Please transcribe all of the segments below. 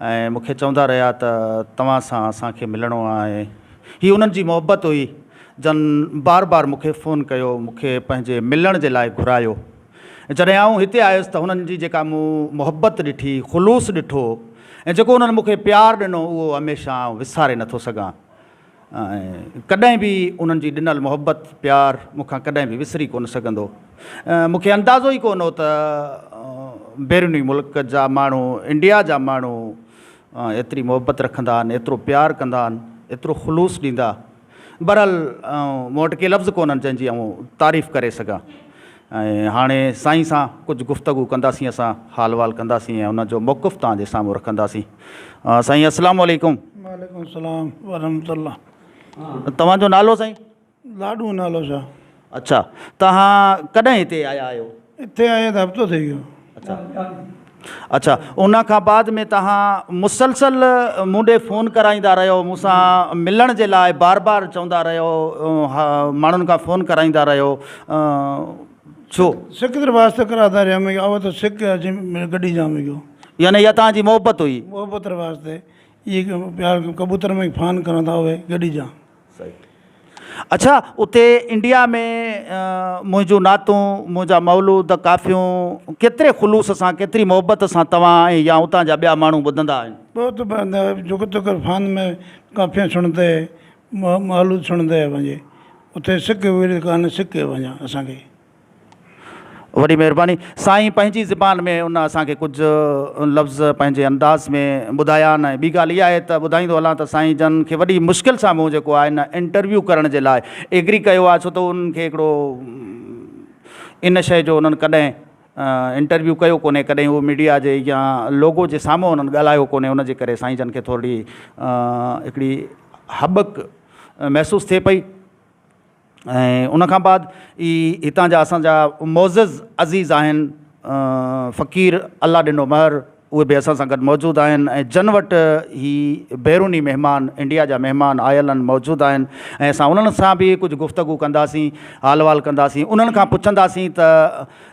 ۽ مون کي چوندا رهيا ته توهان سان اسان کي ملڻو آهي. هي انهن جي محبت هئي، جن بار بار مون کي فون ڪيو، مون کي پنهنجي ملڻ جي لاء گهرايو. جڏهن آئون هتي آيس ته هنن جي جيڪا مون محبت ڏٺي، خلوص ڏٺو ۽ جيڪو انهن مون کي پيار ڏنو، اهو هميشه آئون وساري نٿو سگهان. ڪڏهن به انهن جي ڏنل محبت، پيار مون کان ڪڏهن به وسري ڪونه سگهندو. مون کي اندازو ئي ڪونه هو ته بيروني ملڪ جا ماڻهو انڊيا جا ماڻهو ايتري محبت رکندا آهن، ايترو پيار ڪندا آهن، ايترو خلوص ڏيندا. بهرحال مون وٽ ڪي لفظ ڪونهن جنهن جي آئون تعريف ڪري سگهان. ۽ هاڻي سائين سان ڪجهه گفتگو ڪنداسين اسان حال وال ڪنداسين ۽ ان جو موقف توهان جي سامهون رکنداسين سائين السلام عليڪم. وعليڪم السلام ورحمة الله. توهان جو نالو سائين؟ لاڏو نالو شاهه. اڇا توهان ڪڏهن هتي آيا آهيو؟ هتي آئي ته هفتو ٿي ويو. اڇا ان کان بعد ۾ توهان مسلسل مون ڏي فون ڪرائيندا رهيو مون سان ملڻ جي لاء بار بار چوندا رهيو ماڻهن کان فون ڪرائيندا رهيو ڇو سڪ تر واسطا ڪراتا رهيا مي آو تو سڪ اچي ميري گڏي جا مي گيو يعني يا توهان جي محبت هئي محبت تر واسطي اي پيار ڪبوتر مي فان ڪراندا هوي گڏي جا اڇا اتي انڊيا ۾ منهنجون نعتون، منهنجا مولود، ڪافيون ڪيتري خلوص سان، ڪيتري محبت سان توهان ۽ يا اتان جا ٻيا ماڻهو ٻڌندا آهن؟ بهت بهندي آهي، جوڪو توکر فان ۾ ڪافيون سڻندي، مولود سڻندي وڃي، اتي سڪ ويڙهي ڪانه سڪي وڃان اسان کي. وڏي مهرباني سائين پنهنجي زبان ۾ ان اسان کي ڪجهه لفظ پنهنجي انداز ۾ ٻڌايا آهن ۽ ٻي ڳالهه اها آهي ته ٻڌائيندو هلان ته سائين جن کي وڏي مشڪل سان مون جيڪو آهي نه انٽرويو ڪرڻ جي لاء ايگري ڪيو آهي ڇو ته انهن کي هڪڙو ان شئي جو انهن ڪڏهن انٽرويو ڪيو ڪونهي ڪڏهن اهو ميڊيا جي يا لوگو جي سامهون انهن ڳالهايو ڪونهي ان جي ڪري سائين جن کي ٿورڙي هڪڙي هٻڪ محسوس ٿئي پئي ۽ ان کان بعد ئي هتان جا اسان جا معزز عزيز آهن فقير الله ڏنو مهر اهي به اسان سان گڏ موجود آهن ۽ جن وٽ هي بيروني مهمان انڊيا جا مهمان آيل آهن موجود آهن ۽ اسان انهن سان به ڪجهه گفتگو ڪنداسين حال احوال ڪنداسين انهن کان پڇنداسين ته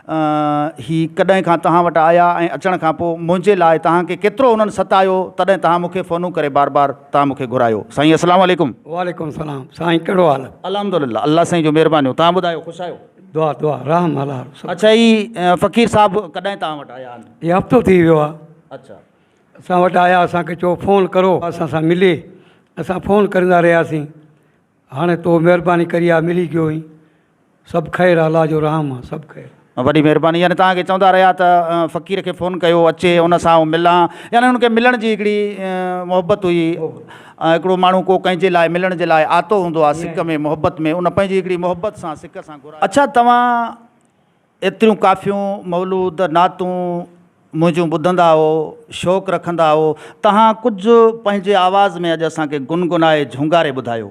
هي ڪڏهن کان توهان وٽ آيا ۽ اچڻ کان پوء منهنجي لاء توهان کي ڪيترو انهن ستايو تڏهن توهان مون کي فونون ڪري بار بار توهان مون کي گهرايو سائين السلام عليڪم. وعليڪم سلام سائين ڪهڙو حال. الحمد لله الله سائين جون مهربانيون توهان ٻڌايو خوش آهيو. دعا دعا رحم الله رسول. اڇا هي فقير صاحب ڪڏهن توهان وٽ آيا آهن. هي هفتو ٿي ويو آ. اڇا. اسان وٽ آيا اسان کي چيو فون ڪرو اسان سان ملي اسان فون ڪرندا رهياسين هاڻي تو مهرباني ڪري آ ملي گيو هين. سڀ خير الله جو رحم آ سڀ خير. وڏي مهرباني يعني توهان کي چوندا رهيا ته فقير کي فون ڪيو اچي ان سان آئون ملان يعني ان کي ملڻ جي هڪڙي محبت هئي هڪڙو ماڻهو ڪو ڪنهن جي لاء ملڻ جي لاء آتو هوندو آ سڪ ۾ محبت ۾ ان پنهنجي هڪڙي محبت سان سڪ سان گهرايو. اڇا توهان ايتريون ڪافيون مولود نعتون منهنجون ٻڌندا هئو شوق رکندا هئو تهان ڪجهه پنهنجي آواز ۾ اڄ اسان کي گنگنائي جهونگاري ٻڌايو.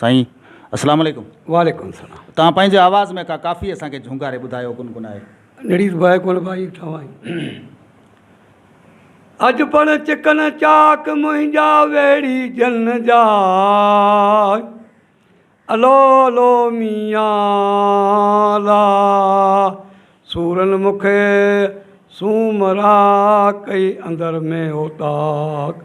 سائين اسلام عليڪم وعليڪم السلام تان پنهنجي آواز ۾ ڪا ڪافي اسان کي جهونگاري ٻڌايو گنگنائي نڙيس بهه گل ڀائي ٺاهي اڄ پڻ چڪن چاڪ منهنجا ويڙهي جن جا الو الو ميان لا سورن مک سومرا ڪئي اندر ۾ اوطاق